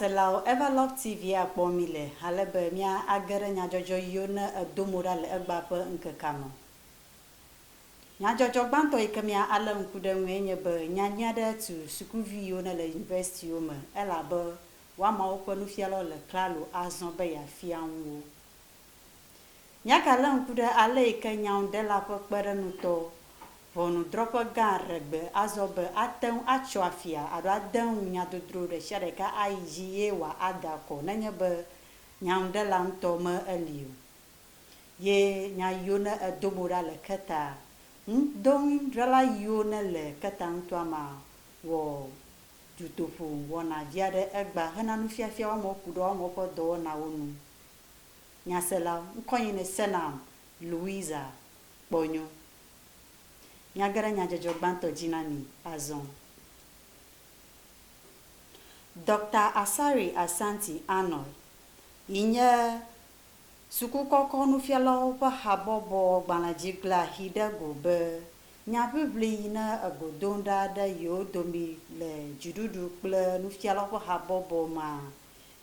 Selawo, Everlove TV a kpɔ mí le ale be mía a ge ɖe nyadzɔdzɔ yio ne e do mo ɖa le egba ƒe ŋkekea me. Nyadzɔdzɔ gbãtɔ yi ke mía a lé ŋku ɖe eŋue nye be nya nyui aɖe tu sukuvi yiwo ne le universitiwo me elabe woamawo ƒe nufialɔ le klalo a zɔ̃ be ya fia ŋu wo. Nya ka lé ŋku ɖe ale yi ke nyaŋuɖela ƒe kpeɖeŋutɔ, ʋɔnudrɔ̃ƒe gã ɖe gbe azɔ be ate ŋu atso afia alo ade ŋu nya dodro ɖe sia ɖeka ayi dzi ye wòada akɔ nenye be nyaŋuɖela ŋutɔ me eli o? Ye nya yiwo ne edo mo ɖa le keta ŋu do ŋui ɖela yiwo ne le keta ŋutɔa mea wɔ dutoƒo wɔna vi aɖe egba hena nufiafia woamewo ku ɖe woamewo ƒe dɔwɔnawo nu. Nyasela, ŋkɔnye ne senam Louisa kpɔ nyo. Miage ɖe nyadzɔdzɔ gbãtɔ dzi na mi azɔ. Dɔkta Asari Asante Arnold, yi nye sukukɔkɔ nufialawo ƒe habɔbɔ gbalẽdzigblẽa xi ɖe go be nya ʋiʋli yi ne egodoŋ ɖa ɖe yewo domi le dziɖuɖu kple nufialawo ƒe habɔbɔ mea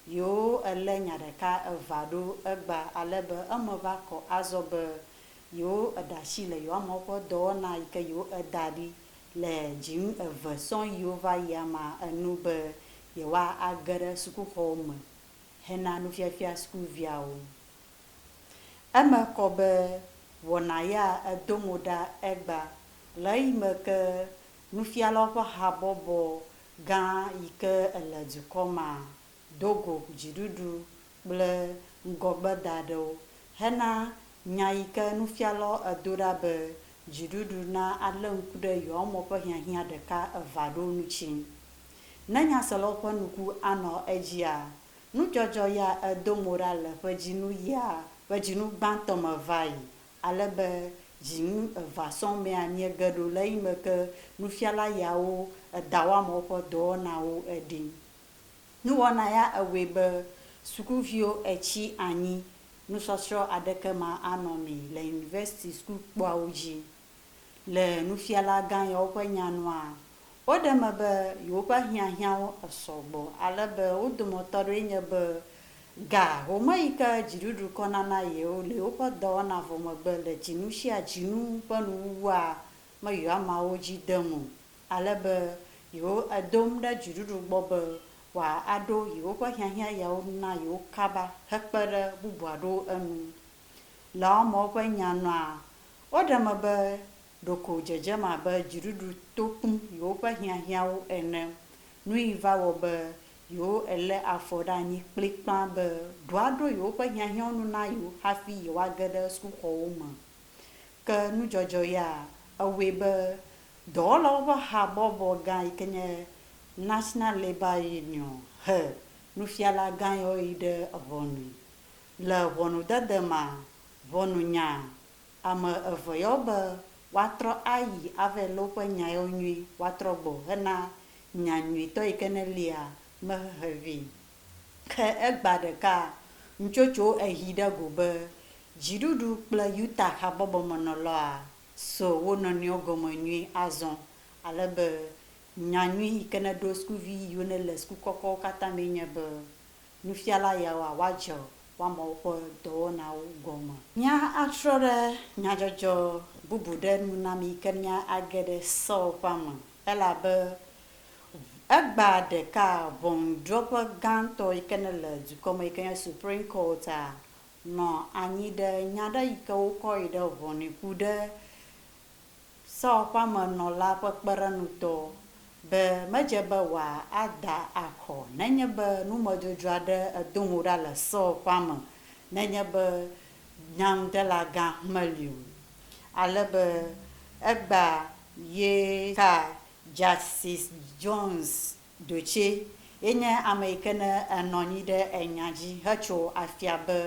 Yoo, èlé nya ɖeka evea ɖo egba ale be eme va kɔ azɔ be yoo eɖe asi le yewoamewo ƒe dɔwɔna yi ke yoo eda ɖi le dzinu eve sɔŋ yiwo va yia ma enu be yewoa age ɖe sukuxɔwo me hena nufiafia sukuviawo. Eme kɔ be wɔna ya edo mo ɖa egba le ɣeyiɣi me ke nufialawo ƒe habɔbɔ gã yike ele dukɔ ma do go dziɖuɖu kple ŋgɔgbeda ɖewo hena nya yike nufialɔ edo ɖa be dziɖuɖu na ale ŋku ɖe yewoa mɔ ƒe hiahiã ɖeka eva ɖo nu tsi. Ne nyaselɔwo ƒe nuku anɔ edzia, nudzɔdzɔ ya edo mo ɖa le ƒe dzinu yia ƒe dzinu gbãtɔ me vayi ale be dzi ŋu eva sɔŋ mea miege ɖo le eyime ke nufiala yawo edawɔam woƒe dɔwɔnawo eɖim. Nuwɔna ya ewɔe be sukuviwo etsi anyi nusɔsrɔ̃ aɖeke ma anɔ mi le university sukukpoawo dzi. Le nufialagã yawo ƒe nya nua, woɖe eme be yewoƒe hiahiãwo esɔ gbɔ ale be wo dometɔ aɖewoe nye be ga home yi ke dziɖuɖu kɔna na yewo le yewoƒe dɔwɔna vɔ megbe le dzinu sia dzinu ƒe nuwuwua me yɔameawo dzi dem o ale be yewo edom ɖe dziɖuɖu gbɔ be wòa aɖo yewoƒe hiahiã yawo nu na yewo kaba hekpe ɖe bubu aɖewo enu Le Omo ƒe nya nua, woɖe eme be ɖeko dzedzem abe dziɖuɖu to kpum yewoƒe hiahiãwo ene. Nui va wɔ be yewo elé afɔ ɖe anyi kplikpã be ɖoa ɖo yewoƒe hiahiãwo nu na yewo hafi yewoage ɖe sukuxɔwo me. Ke nudzɔdzɔ ya, ewɔe be dɔwɔlawo ƒe habɔbɔ gã yi ke nye National Labour Union he nufiala gã yawo yi ɖe ʋɔnui. Le ʋɔnudede ma ʋɔnu nya, ame eve yɔ be woatrɔ ayi ave lé woƒe nya yewo nyui woatrɔ gbɔ hena nya nyuitɔ yi ke nelia me hehe vɛ. Ke egbea ɖeka, nutsotso ehi ɖe go be dziɖuɖu kple Utah habɔbɔ me nɔlɔa so wo nɔnɔewo gɔme nyui azɔ ale be nya nyui yi ke neɖo sukuvi yiwo nele suku kɔkɔwo katã mee nye be nufiala yawoa woadze woame woƒe dɔwɔnawo gɔme. Míatrɔ ɖe nyadzɔdzɔ bubu ɖe nu na mí ke míage ɖe Saul ƒe ame, elabe egba ɖeka ʋɔnudrɔ̃ƒe gãtɔ yi ke nele dukɔ me yi ke nye Supreme Court a, nɔ anyi ɖe nya ɖe yi ke wokɔ yi ɖe ʋɔnui ku ɖe Saul ƒe ame nɔ la ƒe kpeɖeŋutɔ, be medze be wòa ada axɔ nenye be numedzodzro aɖe edo ŋu ɖa le Saul ƒe ame nenye be nyaŋudelagã meli o. Ale be egbea ye ka Justice Jones ɖotse, ye nye ame yike ne enɔ anyi ɖe enya dzi hetso afia be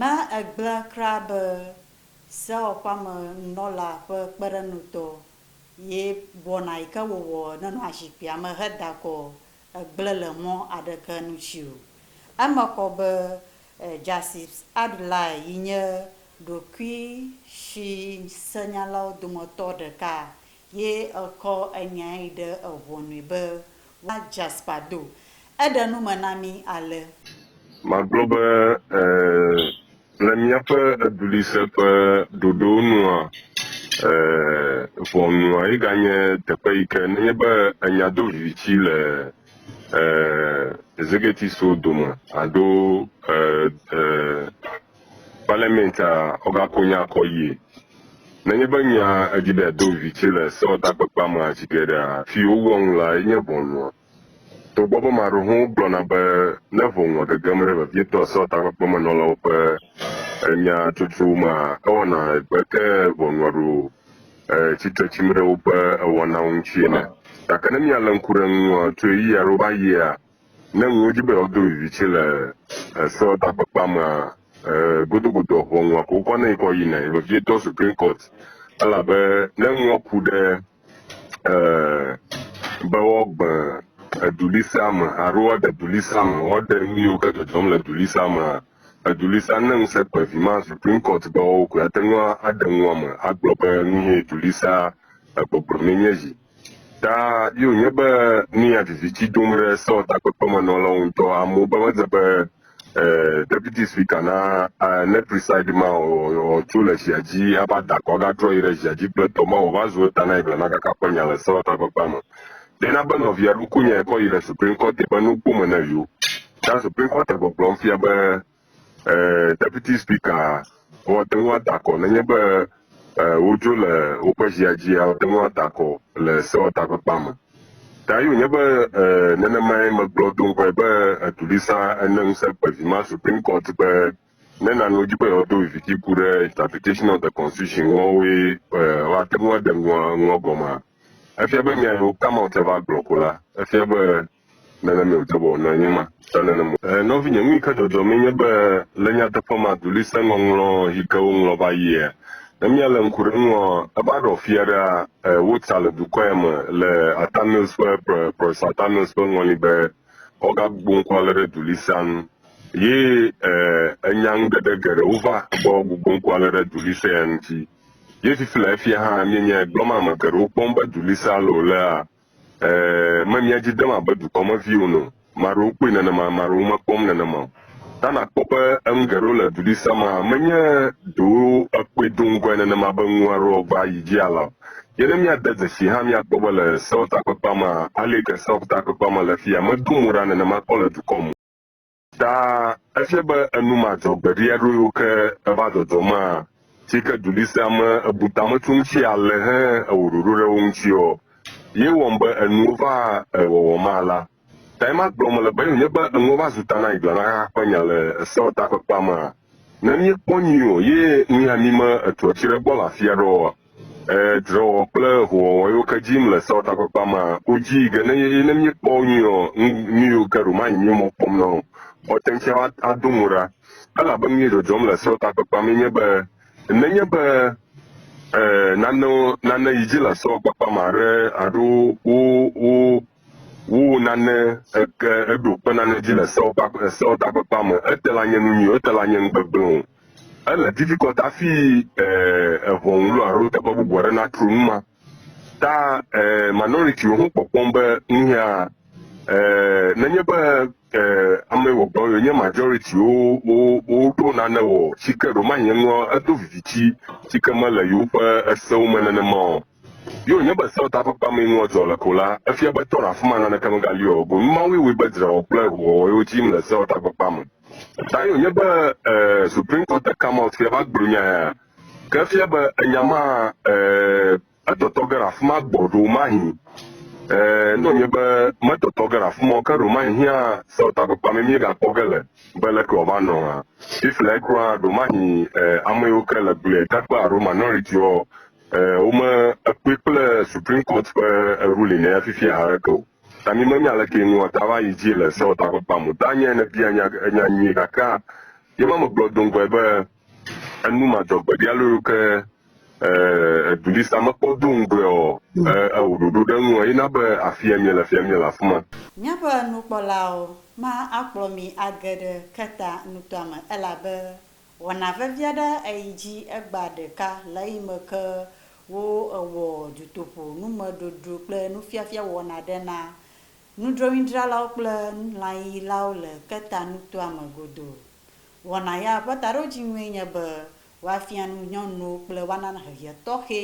Ne ègblẽ kura be sewɔƒeamenunɔla ƒe kpeɖeŋutɔ ye wɔna yi ke wòwɔ nenɔa zikpuia me heda akɔ egblẽ le mɔ aɖeke nu dzi o. Eme kɔ be Jasips Adlai yi nye ɖokuisiŋusẽnyalawo dometɔ ɖeka ye ekɔ enyae ɖe eŋɔnui be va Jasper do. Eɖe nu me na mí ale. Magblɔ be, Ɛ̃. Le míaƒe eduɣlise ƒe ɖoɖowo nua, ɛ̃, ʋɔnua ye ganye teƒe yi ke nenye be ènya do viviti le, ɛ̃, Zigetiso dome alo, ɛ̃, ɛ̃, Parliament a oga ko nya kɔ yie. Nenye be nya edzi be ado vitsɛ le sewɔtakpekpea mea dzi ge ɖea, fi wowɔ nu lae nye ʋɔnua. Togbɔ be maɖehowo gblɔna be ne ʋɔnua gegem ɖe vevietɔ sewɔtakpekpemenɔlawo ƒe enya tsotso mea, ewɔna egbe ke ʋɔnua ɖo tsitre tsim ɖe woƒe ewɔnawo ŋuti ene. Gake ne mialé ŋku ɖe eŋu tso ɣeyiɣi aɖewo va ɣia, Ne ŋu wodzi be yewoado viviti le esewɔtakpekpea mea, ee, godogodoa ʋɔnua ko wokɔ nɛ kɔ yinae, vevietɔ Supreme Court, elabe ne ŋua ku ɖe ee, be woagbe edulisea me alo woaɖe dulisea me, woaɖe nu yiwo ke dzɔdzɔm le dulisea mea, edulisea ne ŋusẽ kpe vi ma Supreme Court be woawo koe ate ŋu aɖe nua me agblɔ be nu ye dulisea egbɔgblɔ mee nye zi. Ta ye wònye be nu ya viviti dom ɖe Saul takpekpemenɔlawo ŋutɔ. Amewo be medze be eh, deputy speaker na eh, ne preside ma wòtso le zia dzi ava da akɔ agatrɔ yi ɖe zia dzi kple tɔ ma wòva zu eta na yi blema kaka ƒe nya le Saul takpekpea me. Ɖe na be nɔvia ɖo konyae kɔ yi ɖe Supreme Court ƒe nukpome ne yewo. Ta Supreme Court gbɔgblɔm fia be E, Deputy Speaker, woate ŋu ada akɔ nenye be e, wodzo le woƒe zia dzia, woate ŋu ada akɔ le sewɔtakpekpea me. Ta ye wònye be e, nenemae megblɔ do ŋgɔe be eduɖisa ene ŋusẽ kpe vi ma Supreme Court be ne nane wodzi be yewoado viviti ku ɖe interpretation of the constitution ŋu woawoe e, woate ŋu aɖe ŋua ŋua gɔmea. Efia be nya yi wò come out va gblɔ ko la, efia be Nenemae wòde be wònɔ anyi ma, ta nene mo. E, nɔvinye, nu yi ke dzɔdzɔmee nye be le nyateƒe ma dulisẽŋɔŋlɔ yi ke woŋlɔ va yia, ne míalé ŋku ɖe eŋua, eva ɖɔ fia ɖea, e, wota le dukɔ ya me le Arthur Mills ƒe, Pro, Professor Arthur Mills ƒe ŋɔli be woagagbugbɔ ŋku alé ɖe dulisẽa ŋu. Ye, e, enyaŋuɖeɖe geɖewo va be woagbugbɔ ŋku alé ɖe dulisẽ ya ŋuti. Ye fifi le efia hã, mienyae, gblɔm ame geɖewo kpɔm be dulisẽ alé wòlea, E, me mia dzi dem abe dukɔ me vi ene o. Maɖewo kpɔe nenema, maɖewo mekpɔm nenema o. Ta nakpɔ be enu geɖewo le duɖi sia me hã menye ɖewo ekpɔe do ŋgɔe nenema be nu aɖewo va yi dzi alea o. Ye ne míade dzesii hã míakpɔ be le Seotakpekpea mea, aleke Seotakpekpea me le fiya medo mo ɖa nenema kpɔ le dukɔ me o. Ta efia be enu madzɔgbeɖi aɖewo yiwo ke eva dzɔdzɔ ma si ke du ɖi sea me ebu tametu ŋuti ale he ewɔ ɖoɖo ɖe wo ŋutiɔ, ye wɔm be enuwo va ewɔwɔ ma la. Tae magblɔ mele be ye wònye be enuwo va zu ta na Igla na xexea ƒe nya le Eseawo Takpekpea mea? Ne míekpɔ nyuie ɔ, ye ŋui ami me etuɔ ci ɖe gbɔ le afia ɖe ɔ, e drewɔ kple howɔwɔ yiwo ke jim le Seɔ takpakpa ma wo ji ge ne ye. Ye ne míekpɔ wo nyuie ɔ, ŋ nuyiwo ke ɖo manyi míwo mɔ kpɔm na o. Xɔ teŋtsia wa ado ŋu ɖa. Elabe nuyi dzɔdzɔm le Seɔ takpakpa mɛ nye be, nenye be e nanewo nane yi ji le Seɔ kpakpa ma ɖe alo wo wo Wowɔ nane eke eɖo kpe nane dzi le sewo kpa sewo takpekpea me. Ete la nye nu nyui, ete la nye nu gbegblẽ o. Ele difficult afi e eŋɔŋ lo alo teƒe bubu aɖe natro nu ma. Ta e minority wo ho kpɔkpɔm be nuhea e nenye be e ame wɔgbɔ yo nye majority wo wo wo ɖo nane wɔ tsike ɖo mahi enua edo viviti tsike mele yewo ƒe esewo me nenema o. Ye wònye be Sewo Takpekpea mee nua dzɔ le ko la, efia be to afima naneke megali o, boŋ nu mawoe wɔe be dzrewɔwɔ kple ʋuwɔwɔ ye wodzi yim le Sewo Takpekpea me. Ta ye wònye be e, Supreme Court de Kamot fia va gblɔ nya ya. Ke efia be enya ma e, etɔtɔ ge ɖe afima gbɔ ɖewomahi e, ne wònye be metɔtɔ ge ɖe afima o, ke ɖewomahi hiã Sewo Takpekpea mee míegakpɔ ge le be leke wòava nɔ hã. Fifliae kura, ɖewomahi e, ame yiwo ke le glia takpea alo minority-woa Eh, wome ekpɔe kple Supreme Court ƒe ruling ya fifia haɖeke o. Ta mi menya leke nua ta va yi dzi le sewɔtakpakpa mo. Ta nye ne bia nya nya nyuie gakea, ye ma megblɔ do ŋgɔe be enu ma dzɔ gbeɖi alo yo ke eh, edulisa mekpɔ do ŋgɔe ɔ, eh, ewɔ ɖoɖo ɖe ŋu ɔ, ye na be afia mie le fia mie le afima. Míaƒe nukpɔlawo ma akplɔ mi age ɖe Kreta nutoa me elabe Wɔna vevi aɖe eyi dzi egbea ɖeka le eyi me ke wo ewɔ dutoƒo numeɖoɖo kple nufiafia wɔna ɖe na nudrɔ̃windralawo kple lãyiyilawo le Keta nutoa me godoo. Wɔna ya ƒe taɖodziŋue nye be woafia nu nyɔnuwo kple woana hehe tɔxɛ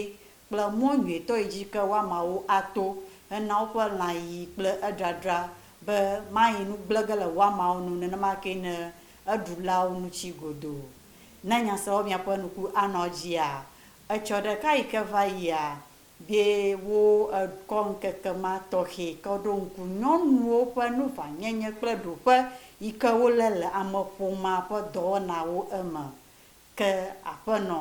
kple mɔ nyuitɔ yi dzi ke woamawo ato hena woƒe lãyiyi kple edradra be mayi nu gblẽ ge le woamawo nu nenema kee ne eɖulawo nu tsi godoo. Ne nyaseawo bia ƒe nuku anɔ edzia, etsɔ ɖeka yi ke va yia be wo ekɔ ŋkeke ma tɔxɛ ke woɖo ŋku nyɔnuwo ƒe nuʋãnyenye kple ɖoƒe yi ke wolé le ameƒomea ƒe dɔwɔnawo eme ke aƒenɔ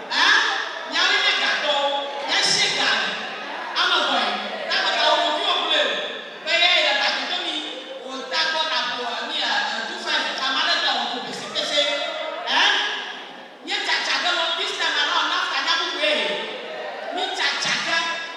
Ẽ, miawoe nye gatɔwo. Miatsie ga me. Ame vɔ̃e, tagbeta wo ɖokuiwo kloe o, be eyae le ta toto mi. Wò tagbɔ naƒo ami ɛ ɛ du fai me tsa male dɔ wɔ ko pese pese. Ẽ, mie tsa tsa ge lɔ Filistia ma lɔ Nafta nya bubue he. Mi tsa tsa ge.